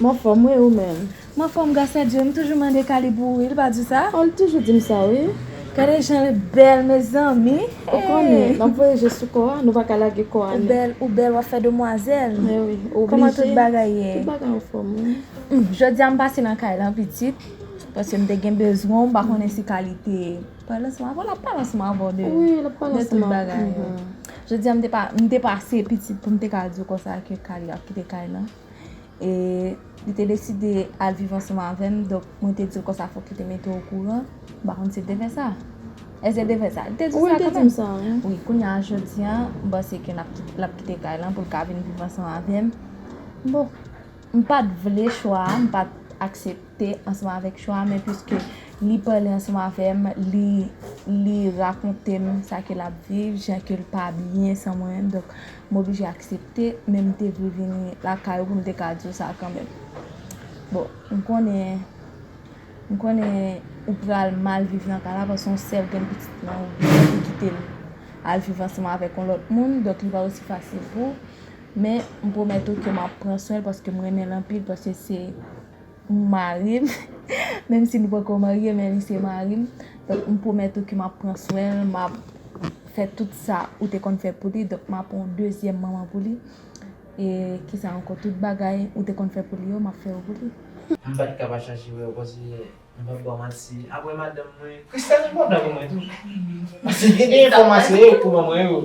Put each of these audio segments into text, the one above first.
M anfòm wi ou menm? M anfòm gras a Dye m toujou mande Kalib ou wi li pa di sa? Oh li toujou di m sa wi. Gade jan li bèl mezanmi eh. Ou konnen n ap voye je sou kò a nou pa ka lage kò a ni. Ou bèl w ap fè demwazèl. Eh wi oblije. Kòman tout bagay ye? Tout bagay anfòm wi. Humm jodi a m pase nan kay lan pitit paske m te gen bezwen w m pa konnen si Kali te pale ansanm avè w l ap pale ansanm avè w de Wi l ap pale ansanm avè m de tout bagay yo. Jodi a m te pase pitit pou m te ka di w konsa ke Kali ap kite kay lan. E li te deside al viv ansanm avè m. Donk, mwen te di l konsa fòk li te mete w okouran. M pa konn si l te fè sa. Èske l te fè sa? Li te di sa kanmèm. Wi, li te di m sa. Wi, kounye a, jodi a, m panse ke l ap kite kay lan pou l ka vin viv ansanm avè m. Bon, m pa t vle chwa a. M pa t aksepte ansanm avèk chwa a. Men piske li pale ansanm avè m, li rakonte m sa ke l ap viv, jan ke l pa byen san mwen menm. Donk, M oblije aksepte, men m te vle vini lakay ou pou m te ka di w sa kanmenm. Bon, m konnen, m konnen ou pral mal viv nan kay la paske yon sè ou gen pitit nan ou byen pou kite l al viv ansanm avèk yon lòt moun, donk li pa osi fasil pou ou. Men, m pwomèt ou ke m ap pran swen l paske m renmen l anpil paske se. M mari l, menm si nou poko marye men li se mari m. Donk m pwomèt ou ke m ap pran swen l, m ap fè tout sa ou te konn fè pou li. Donk m ap yon dezyèm manman pou li. E ki sa ankò? Tout bagay ou te konn fè pou li yo, m ap fè yo pou li. M pa t ka pa chache wè w paske m pa p ba w manti. Apre madanm mwen, Christelle enpòtan pou mwen tou. Paske gen de enfòmasyon yo pou ban mwen yo.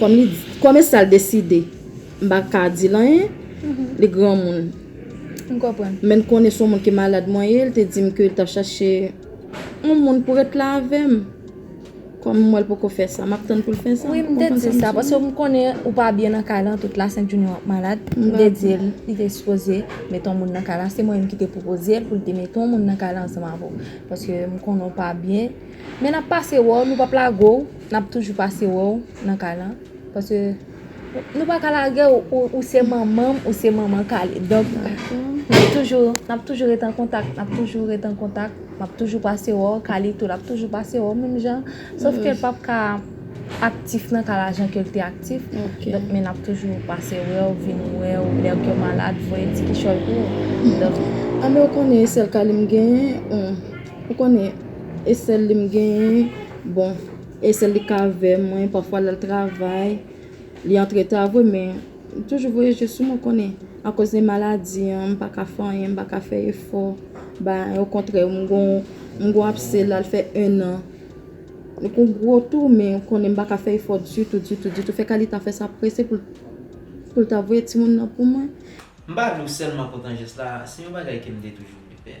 Kòm li kòm e sal deside m pa ka dil anyen li granmoun m konprann menn konnen son moun ki malad mwen ye li te dim ke li tap chache yon moun pou ret la avèm kòm m wèl poko fè sa map tann poul fè sa wi m te dil sa paske m konnen ou pa byen nan kay lan tout la sèn junior ap malad m te dil li te sipoze met yon moun nan kay la se mwen menm ki te pwopozel poul te met yon moun nan kay la ansanm avèw paske m konnen ou pa byen men nap pase wèw nou pap lagow. Nap toujou pase wè w nan kay lan paske nou pa ka lage w ou se manman m ou se manman Kale donk nap toujou nap toujou ret an kontak nap toujou ret an kontak map toujou pase wè w Kale tou lap toujou pase wè w menm jan sof ke l pap ka aktif nan kay la jan ke l te aktif donk men nap toujou pase wè w vin wè w lè ke w malad voye ti kichòy pou w donk. Ame w konnen e sèl Kale m genyen. Ou konnen e sèl li m genyen bon e sèl li k avè mwen pafwa lal travay li antreta vre men li toujou voye je sou mwen ou konnen akoz de maladi an m pa ka fè anyen m pa ka fè efò bay okontrè m gon m gon apse lal fè 1 an li kon gwo tou men ou konnen m pa ka fè efò ditou ditou ditou fè ka li ta fè sa prese pou l pou l ta voye timoun nan pou mwen. M pa di w sèlman kontan jès la se yon bagay ke m te toujou vle fè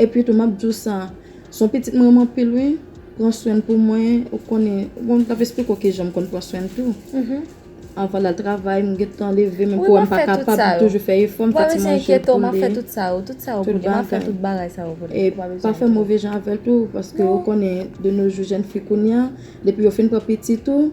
Epi tou map diw sa, son pitit mwen renmen anpil wi, pran swenl pou mwen, ou konnen, bon mtap esplike w kijan mkonn pran swenl tou, anvan lal travay m gentan leve menm kouwèm pa kapab m toujou fè efò m fè ti manje pou li, tout bagay, e pa fè move jan avèl tou paske ou konnen de no jou jèn fi kounya depi yo fin pran pitit ou.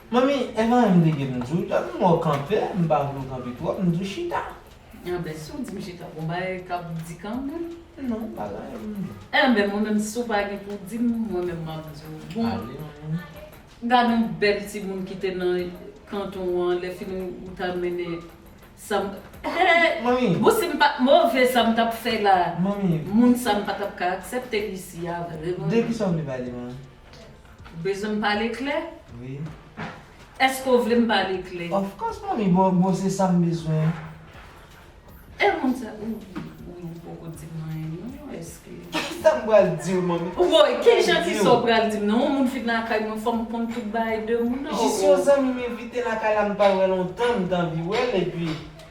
Manmi evan em leve m diw tan m wè w kanpe m pa vle w kanpe twòp m di w chita. Anben si w di m chita bon bagay kap di kanmenm. Non m pa zanmi pou m di. Anben mwen menm si w pa gen pou w di m mwen menm map di w bon. Ale manmi. Gad on bèl timoun ki te nan kanton an lè fini ou ta mennen sa m hee Manmi. Bon si m pat move sa m tap fè la Manmi. moun sa m pa tap ka aksèpte l isi a vre manmi. De kisa w vle pale manmi. Ou bezwen m pale klè? Wi. Eske w vle m pale klè? Of course momi boo, boo se sa m bezwen. E moun sa ou ou poko di m anyen non eske. Kisa m pral diw momi? Ou voye ki jan kisa w pral di m non yon moun vin lakay mwen fò m konn tout bagay de moun nan oo. Jis yon zanmi m envite lakay la m pa wè lontan m t anvi wè l epi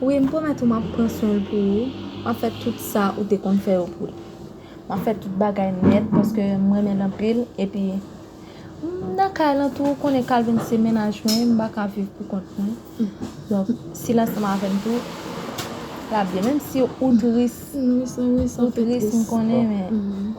Wi, m pwomèt ou m ap pran swen l pou ou. M ap fè tout sa ou te konn fè yo pou l. M ap fè tout bagay nèt paske m renmen l anpil. Epi, m nan kay lan tou. Ou konnen Kalvin se mennaj mwen. M pa ka viv poukont mwen. Donk, si l ansanm avè m tou, l ap byen. Menmsi ou tris, ou tris m konnen men.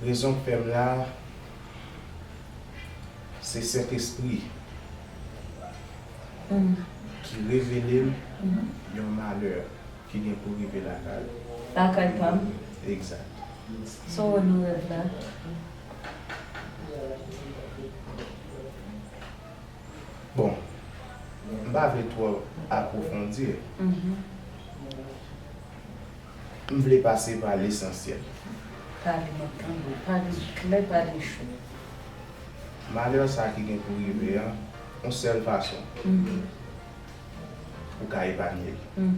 Rezon k fèm la se sentespri ki revelem yon malè ki gen pou rive lakay ou. Lakay pam? Exact. Saw wè nan rèv la? Bon, m pa vle twò apwofondir. M vle pase pa lesansyèl. Pale map tande w. Pale klè pale cho. Malè sa ki gen pou rive an on sèl fason ou ka epanye l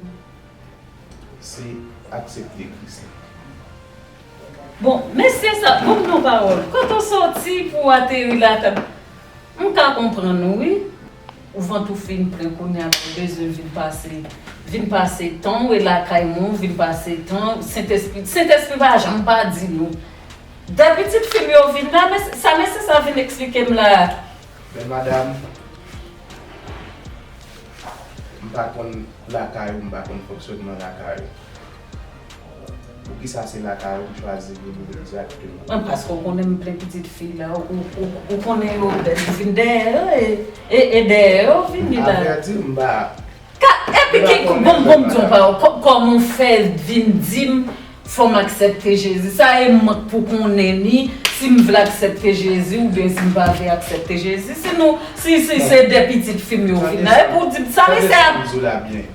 se aksepte kris la. Bon mesye sa banm yon pawòl. Kote w sòti pou w ateri la m ka konprann ou wi. Ou vant ou fin plen kounya pa bezwen vin pase vin pase tanw e lakay mwen ou vin pase tan sentespri sentespri pa janm pa di nou dè pitit fim yo vin la men sa men se sa vin eksplikem la. Bèl madam m pa konn lakay ou m pa konn fonksyonman lakay ou. Poukisa se lakay ou m chwazi vini egzakteman? Mwen paske w konnen m plen pitit fi la, ou konnen yo bèl, m vin dèyè yo e e dèyè yo vini la. Avrèdi m pa. Ka, epi ki bon m bon m di w pa w, kòman w fè vin di m fò m aksepte Jezi? Sa e m k pou konnen ni si m vle aksepte Jezi oubyen si m pa vle aksepte Jezi? Si nou, si se de pitit fi m yo vin la, epi w di m sa mesye a. Tande sa m di w la byen.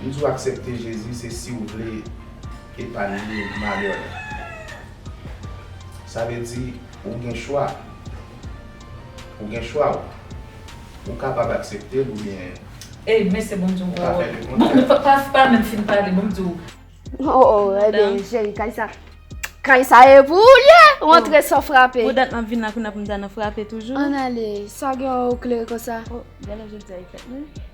M di w aksepte Jezi se si w vle epanye malè w. Sa vle di ou gen chwa. Ou gen chwa w. Ou kapab aksepte l oubyen ou ka fè le kontrè.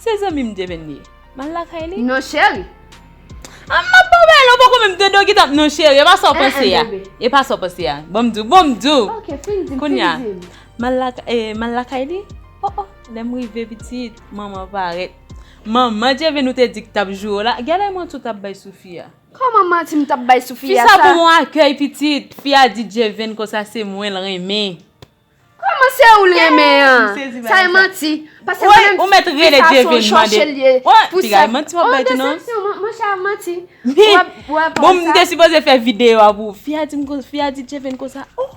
Se zanmi m Devynn ye. M al lakay li. Non cheri. An m ap ba w bagay la ou poko menm tande w gentan ap non cheri e pa sa w panse a. E pa sa w panse a. Ban m di w, ban m di w! Ok fin di m, fin di m. M al lakay, m al lakay li. O o! Lè m rive pitit, manman parèt. Manman Devynn ou te di ki t ap joure w la, gade lè manti w t ap bay sou fi a. Kòman manti m t ap bay sou fi a sa? Fi sa bon akèy pitit. Fi a di Devynn konsa se mwen l renmen. Koman se ou li renmen an? Sa e manti. Pase mwen menm di sa son chòche li ye. Ou ti gay manti wap bay tou nan. Ou desepsyon mwen chè a manti. Bon mwen te sipoze fè video a pou ou. Fi a dim konsa, fi a di Djeven konsa. Oh!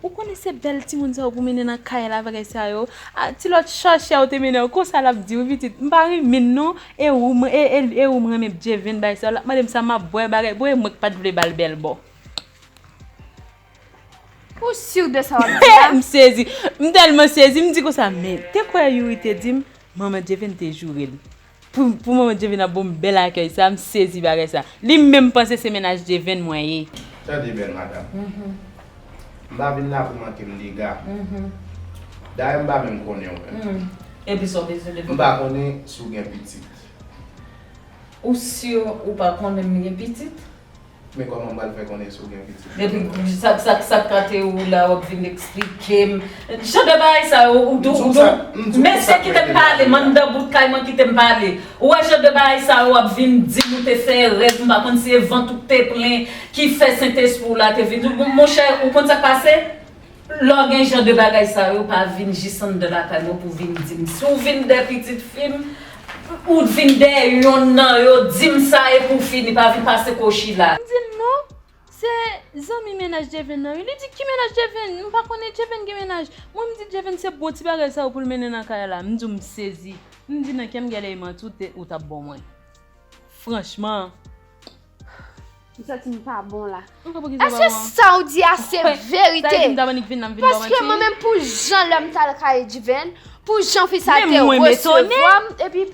Ou konnen se bèl timoun sa yo pou mennen nan kay la bagay sa yo. A ti lòt chòche a ou te mennen an konsa lap di ou pitit. M pa rinmin non. E ou m, e ou m renmen Djeven bay sa yo. Lap mande m sa map bwè bagay. Bon e mwen ki pat vle bal bèl bo. Ou sur de sa wap di a? M sezi, m tèlman sezi, m di konsa men, te kwè Youri te di m, manman Djevin te joure l pou pou manman Djevin ap ban m bèl akèy sa, m sezi bagay sa. Li menm panse se mennaj Djevin mwen ye. Tande bèl madam. M pa vin la pou manke m dega. Dayè m pa menm konnen w menm. Epi sa w bezwen de mwen? M pa konnen si w gen pitit. Ou sur ou pa konnen m gen pitit? Men koman m pral fè konnen si w gen pitit. Epi sa sa sa kate ou la wap vin eksplike m. Jan de bagay sa yo ou dou ou dou. Mesye kite m pale m anndan bout kay mwen kite m pale. Ou wè jan de bagay sa yo wap vin di m ou te fè rèv m pa konn si e vant ou k te plen ki fè sentespri w la te vin. Monchè ou konn sa k pase? Lò gen jan de bagay sa yo pa vin jis anndan lakay mwen pou vin di m si w vin dè pitit fi m ou t vin dè yonn nan yo di m sa e pou fini pa vin pase kou Sheila. M di l non se zanmi mennaj Djevin nan wi li di ki mennaj Djevin m pa konnen Djevin gen mennaj mwen m di Djevin se bon ti bagay sa yo pou l mennen nan kay la m di w m sezi m di nan kè m gèlè eman tou te ou t ap bo mwen franchman. M santi m pa bon la. Eske sa ou di a se verite? Paske mwen menm pou jan lè m t al kay Edivèn, pou jan fi sa te resevwa m, epi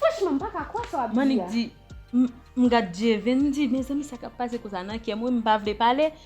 franchman m pa ka kwè sa w ap di a. Mannik di, m gad Edivèn m di, mezanmi sa k ap pase konsa nan kè mwen m pa vle pale.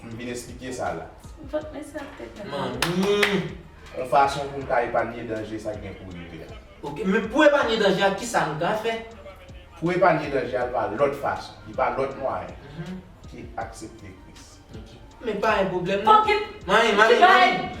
M vin esplike sa la. Vant mesye ap pete la. Manmi! Yon fason pou m ka epanye danje sa k gen pou rive a. Ok, men pou epanye danje a ki sa nou ka fè? Pou epanye danje a l pa lòt fason, li pa lòt mwayen ke aksepte Kris. Ok. Men pa yon pwoblèm non. Manmi! Manmi! Manmi!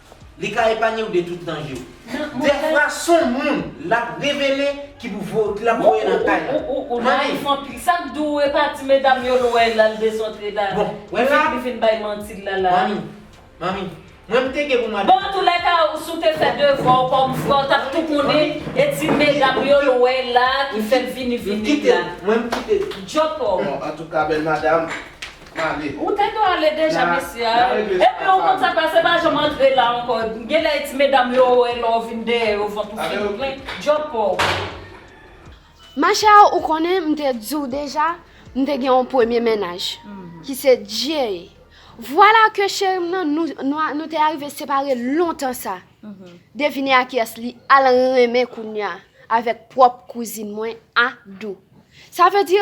Li ka epanye w de tout danje w. Dèfwa son moun l ap revele ki pou vo ki l ap voye nan kay la. Ou nayif anpil. Sa k di w e pa di medam yo l wè la l desantre la. Bon, wè la. Li fin bay manti l la la. Manmi, manmi, mwen m te gen pou mwen. Bon antoulèka ou si w te fè devwa w kòm frè w t ap tou konnen e di medam yo l wè la ki fè l vini vini la. Mwen m kite l. Djòpò. Bon antouka bèl madam. Kale. Ou te dwe ale deja mesye a. Epi ou konn sak la se pa janm antre la ankò. Genlè e ti medam yo wè lè ou vin dèyè yo vant ou fin plen. Djòl paw. Ma chère ou konnen m te di w deja m te gen yon premye mennaj ki se Jay. Vwala ke cheri m nan nou te arive separe lontan sa. Devine a kiyès li al renmen kounya avèk pwòp kouzin mwen Adou. Sa vle di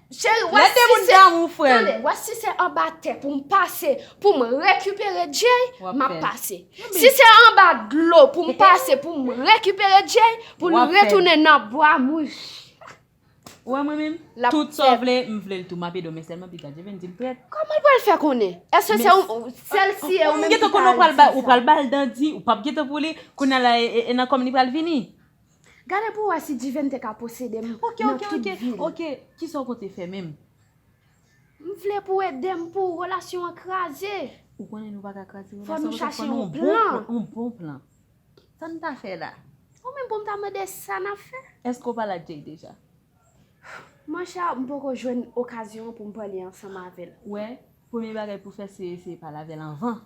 Cheri wè si se Tande wè si se anba tè pou m pase Pou m rekipere Jay M ap pase Si se anba dlo pou m pase Pou m rekipere Jay Pou nou retounen nan bwa mouche Ou wè mwen menm Tout sa w vle m vle l tou M ap ede w men sèlman piga Jay vin di m prèt Kòman l pral fè konnen Èske se ou Sèl si e ou menm ki pral di sa Ou pral ba l dan di Ou pap gen tan pou li Kounye a la e nan kò m li pral vini. Gade pou wè si Divin te ka posede m nan tout vi l. Ok, kisa w konte fè menm? M vle pou w ede m pou relasyon an kraze. Ou konnen nou pa ka kraze relasyon an paske fò nou gen yon bon plan. Sa n ta fè la? Ou menm pou m ta mande sa n ap fè? Eske w pale ak Jay deja? Manchè, m poko jwenn okazyon pou m pale ansanm avè l. Ou wè, premye bagay pou w fè se eseye pale avè l anvan.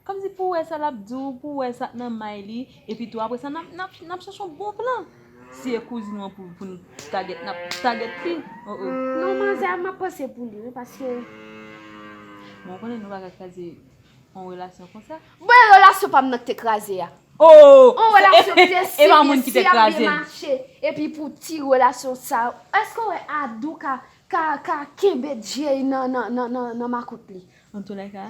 Kòmsi pou wè sa l ap di w, pou wè sa k nan may li, epitou apre sa n ap chèche yon bon plan. Si e kouzin w an pou n tagèt, n ap tagèt li. O o. Non manzè a m ap panse pou li wi paske. Bon ou konnen nou pa ka kraze yon relasyon konsa. Bon e relasyon pa m nan ki te kraze a? O o. Yon relasyon ki te si byen, si ap byen mache, epi pou ti relasyon sa yo. Èske w wè Adou ka kenbe Jay nan makout li? Antoulèka,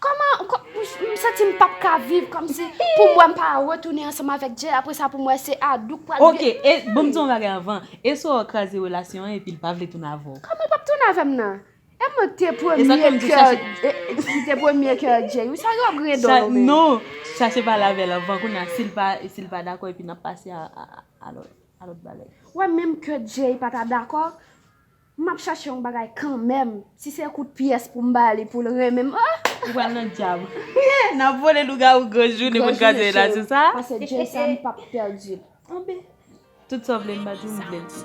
Koman m santi m pap ka viv komsi pou m wè m pa retounen ansanm avèk Jay apre sa pou m wè se Adou k pral vye. Ok e banm di yon bagay avan e sou a kraze relasyon an epi l pa vle tounen avè w. Koman l pap tounen avè m nan? E mwen k te premye kè m te premye kè Jay wi sa yo gen don yo menm. Non chache pale avè l avan kounye a si l pa dakò epi n ap pase a lòt bagay. Wè menm kè Jay pa ta dakò. M ap chache yon bagay kanmenm. Si se kout pyès pou m ba li pou l renmen m oh! Ou pral nan dyab. N ap vole lougawou gran jounen pou n graduate la sou sa? Pase Djey sa m p ap pèdi l anben. Tout sa w vle m ba di w m vle l tou.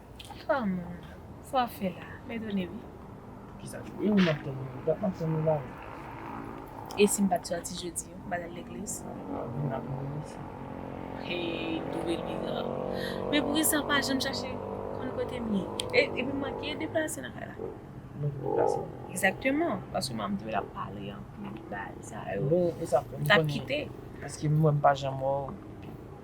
Fanm sa wap fè la m'etone wi. Kisa ki e ou map tann ou dat map tann ou la wi. Esim pat sòti jodi yo mpa tal legliz. Vin ak mwen mesye. Heyy double bizar. Men poukisa ou pa janm chache konn kotem ye. Epi m manke deplase nan kay la. M manke deplase. Exactement paske manman m te wè lap pale anpil bagay sa yo. Mwen esa m tap kite. Paske mwen m pa janm wè w.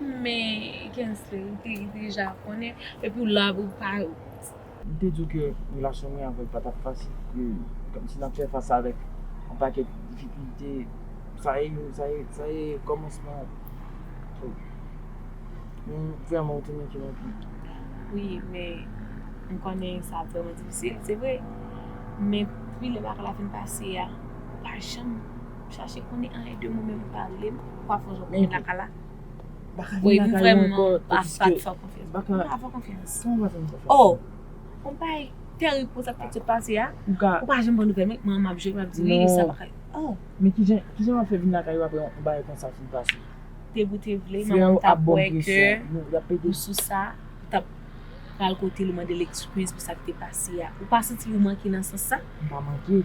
Men Kensley ou te deja konnen epi w la pou pa. M te di w ke relasyon mwen avèk pa tap fasil ke kòmsi nap fè fas avèk yon pakèt difikilte sa e yo sa e sa e kòmansman oh men vrèman ou te manke m anpil. Wi men m konnen sa ap vrèman difisil se vre men pi lè bagay la fin pase a ou pa janm. Chache konnen anyen de mwen menm pale m pa fon jòp mwen lakay la Bon epi vrèman pa sa t fè w konfyans Mwen pa fè w konfyans Oh on bagay terib pou sa k sot pase a Ou pa janm pran nouvèl mwen Mwen m ap jwe m ap di wi sa pa ka Oh Men kijan kijan w ap fè vin lakay ou aprè on bagay konsa fin pase Te vle ou te vle manman m t ap wè ke ou sou sa Ou t ap pral kote l ou mande l ekskiz pou sa k te pase a Ou pa santi l ou manke nan sans sa M pa manke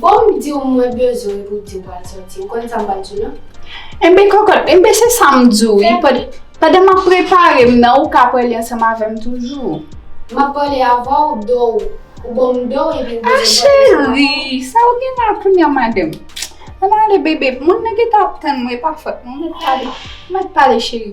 Bon m di w mwen bezwen l pou w di w pral sòti. Ou konn sa m pral di w nan? Enben kòkòt, enben se sa m di w wi. Pandan m ap prepare m nan, ou ka pale ansanm avè m toujou. M ap pale avè w do w. Ou ban m do w epi ou bezwen pale ansanm avè m. A cheri, sa ou gen la kounye a madanm? Ann ale bebe, moun nan gentan ap tann mwen, e pa fòt mwen. Mèt pale, mèt pale cheri.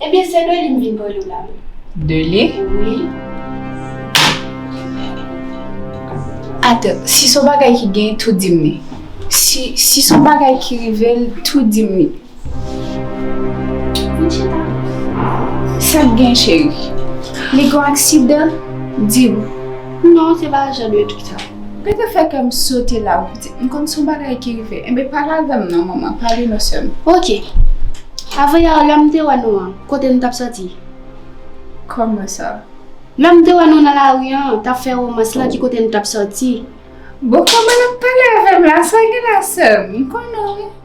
Ebyen se de li m vin pale w la wi. De li? Wi. Atò, si son bagay ki gen tou di m li. Si, si son bagay ki rive l tou di m li. Vin chita. Sa k gen cheri? Li gon aksidan? Di m. Non se pa jan de trik sa. Rete fè kè m sote la wi. M konn son bagay ki rive. Enben pale avè m non manman, pale non sè m. Ok. Avan yè a lè m te wè nou an, kote nou t ap sòti? Kòman sa? Lè m te wè nou nan lari an, t ap fè romans lan ki kote nou t ap sòti? Bon kòman l ap pale avè m la, sa gen la sè m? M konnen w.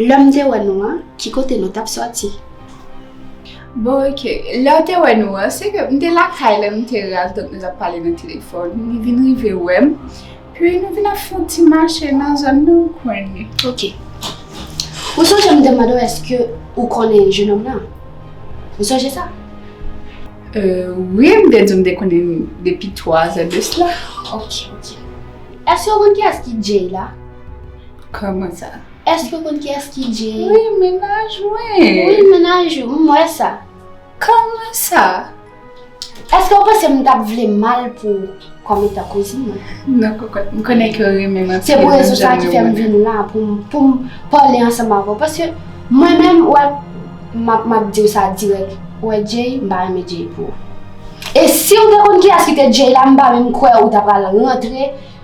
Lè m te wè nou an, ki kote nou t ap sòti? Bon ok, lè w te wè nou an, se ke m te lakay la, nou te raz donk nou t ap pale nan telefòn. Li vin rive wè m, pi nou vin ap fè yon ti mache nan zòn nan, ou konnen. Ok. Ou sonje m te mande w èske ou konnen jenòm nan? Ou sonje sa? Wi, m te di w m te konnen li depi twazè de sla. Ok, ok. Èske ou konn kiyès ki Jay la? Kòman sa? Èske ou konn kiyès ki Jay? Wi, mennaj mwen! Wi, mennaj ou, m wè sa. Kòman sa? Èske ou panse m t ap vle mal pou ou kòm etan kouzin mwen? Non kokot, m konnen ke ou renmen m anpil. Se pou rezon sa a ki fè m vin la pou m pale ansanm avè ou. Paske mwen menm, ou wè, m ap di ou sa dirèk, ou wè Jay, m pa renmen Jay pou ou. E si ou te konn kiyès ki te Jay la, m pa menm kwè ou t apral rantre.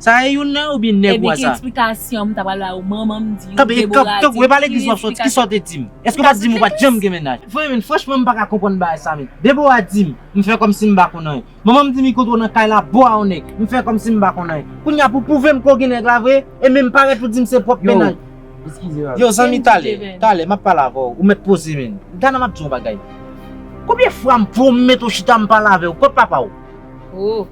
Sa a e youn nan yo oubyen nèg ou a sa a? Ebyen ki eksplikasyon m ta pral ba ou manman m di ou Deborah di Tanpri e pa legliz wap soti kisa ou te di m? Eske ou pat di m ou pat janm gen mennaj? Frè men franchman m paka konprann bagay sa men Deborah di m m fè kòmsi m pa konn anyen Manman m di m li kontre w nan kay la bo a yon nèg m fè kòmsi m pa konn anyen Kounya pou w pwouve m ke w gen nèg la vre e menm parèt pou di m se pwòp mennaj Yow zanmi talè talè map pale avè w ou mèt poze men Gana map di w yon bagay Konbyen fwa m pwomèt ou chita m pale avè w kot papa w?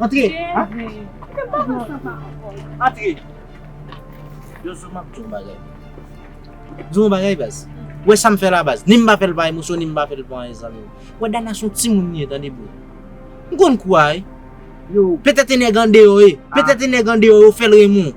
Antre! Antre! Yo zo map diyon bagay. Diyon bagay baz. Ou wè sam fè la baz. Ni m pa fèl pa emosyon ni m pa fèl pou anyen zanmim. Ou wè Dana son timoun li ye tande bro. M konn kou a wi. Yo. Petèt e nèg andeyo ye. Petèt e nèg andeyo yo fèl renmen w.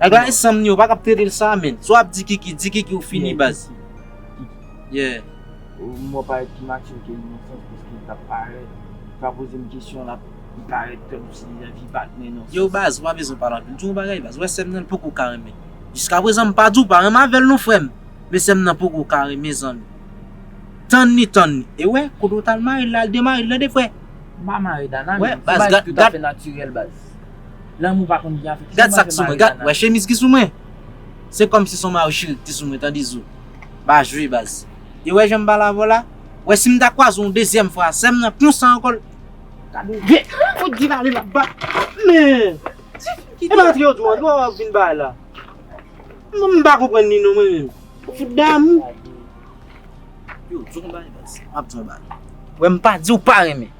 Nèg la ensanm ni ou pa kap tretel sa menn swa ap di kiki di kiki ou fini baz yeah. Ou menm wap parèt pi mature ke Innoss'b paske li tap parèt ou ka pozel yon kesyon lap li parèt kòm si li anvi batn Innoss'b. Yow baz ou pa bezwen pale anpil di yon bagay baz ou wè sèm nan li poko ka renmen jiska prezan m pa di w pa renmen avèl non frèm men sèm nan poko ka renmen zanmi tann li tann li e wè kote ou tal marel la al demarel tande frè. M pa mare Dana menm se bagay ki tout afe natirèl baz. Lanmou pa konn gen afè. Gad sak sou mwen gad wè chemiz ki sou mwen se kòmsi son mayo cheri kite sou mwen tande zo pa jwe baz e wè janm bal avèw la wè sim ta kwaze w yon dezyèm fwa sèm nan konsa ankò l Gade vye kout di vale lap ba men ti fi kite epa antre yo dwouan dwouan wap vin bay la m pa konprann li non mwen menm ou fout damou yo di w yon bagay baz map di w yon bagay wè m pa diw pa renmen.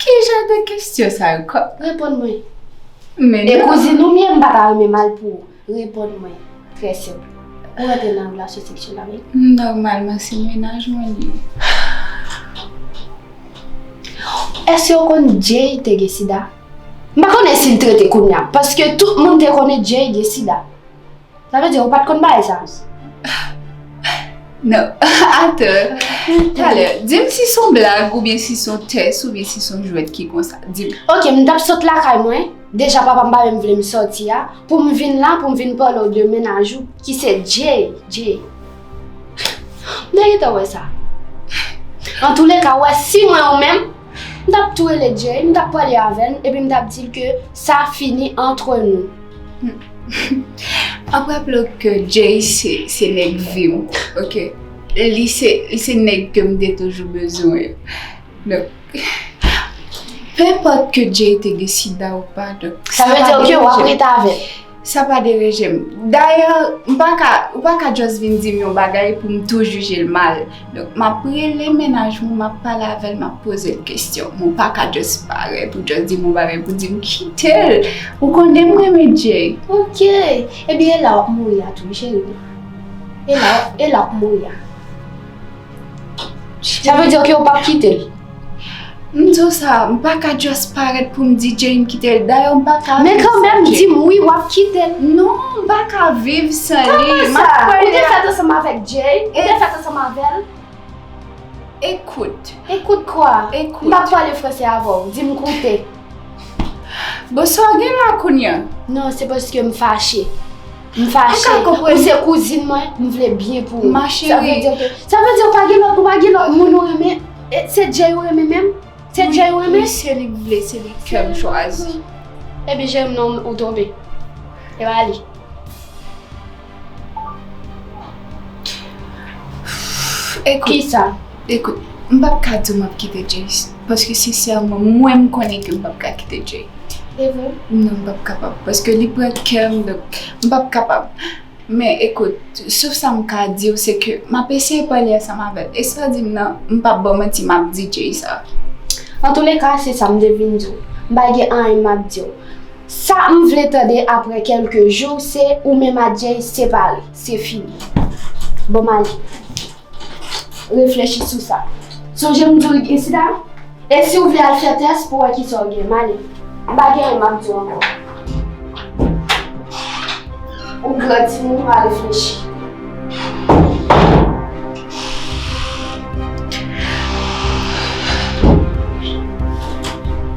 Ki jan de kestyon sa yo kòm. Reponn mwen. Men non. E kouzin ou menm pa ta renmen mal pou ou. Reponn mwen. Trè senp. Ou antre nan relasyon seksyèl avèk li? Nòmalman se mennaj mwen li ye. Èske ou konn Jay te gen sida? M pa konnen si l trete kounya paske tout moun te konnen Jay gen sida. Sa vle di ou pat konn bagay sa avan? Non, atò. Talè, di m si son blag oubyen si son tès oubyen si son jwèt ki konsa. Di m. Ok, m t ap sot lakay mwen, deja papa m pa menm vle m soti a, pou m vin la pou m vin pale w de mennaj ou ki se Jay. Jay. M te gentan wè sa. Antoulèka, ou wè si mwen ou menm. M tap tou rele Jay, m tap pale avè l epi m tap di l ke sa fini antre nou. Ap raple w ke Jay se nèg vi m, ok? Li se nèg ke m te toujou bezwen yo. Donk, penpòt ke Jay te deside a ou pa, donk sa pa deranj m. Sa vle di ke wap rete avè l? Sa pa deranje m. Dayè, m pa ka, ou pa ka just vin di m yon bagay pou m tou jije l mal. Donk, m ap rele mennaj mwen, m ap pale avè l, m ap poze l kesyon. Mwen pa ka just parèt ou just di m yon bagay pou di m kite l. Ou konnen m renmen Jay. Ok! Ebyen e la w ap mouri a tou wi cheri m. E la, e la w ap mouri a. Sa vle di ke ou pap kite l? M di w sa, m pa ka just parèt pou m di Jay m kite l. Dayè m pa ka viv san Jay. Men kanmèm di m wi w ap kite l. Non, m pa ka viv san li. Kòman sa? Ou te fèt ansanm avèk Jay? Ou te fèt ansanm avè l? Écoute. Écoute kwa? Écoute. M pa p pale fransè avè w. Di m koute. Bon sa w gen la kounya? Non, se paske m fache. M fache, ou se kouzin mwen, m vle byen pou ou. Ma cheri. Sa vle di ou pa gen lòt, ou pa gen lòt moun ou renmen? Se Jay ou renmen menm? Se Jay ou renmen? Wi, se li m vle, se li kè m chwazi. Epi je m nan ou tonbe. E ba li. Ekout. Kisa? Ekout, m pap ka di w m ap kite Jay. Paske sensèman mwen m konnen ke m pap ka kite Jay. Se vre? Non m pap kapab paske li pran kè m donk m pap kapab. Men ekout, sof sa m ka di w se ke m ap eseye pale ansanm avè l e sa w di m nan m pap ba w manti m ap di Jay sa. Antouleka se sa m te vin di w. M pa gen anyen m ap di w. Sa m vle tande aprè kèlke jou se ou menm ak Jay separe. Se fini. Bon m ale. Reflechi sou sa. Sonje m di w isit la, e si w vle al fè tès pou w wè ki sa w gen, m ale. M pa gen anyen m ap di w ankò. Ou gran timoun, ou al reflechi.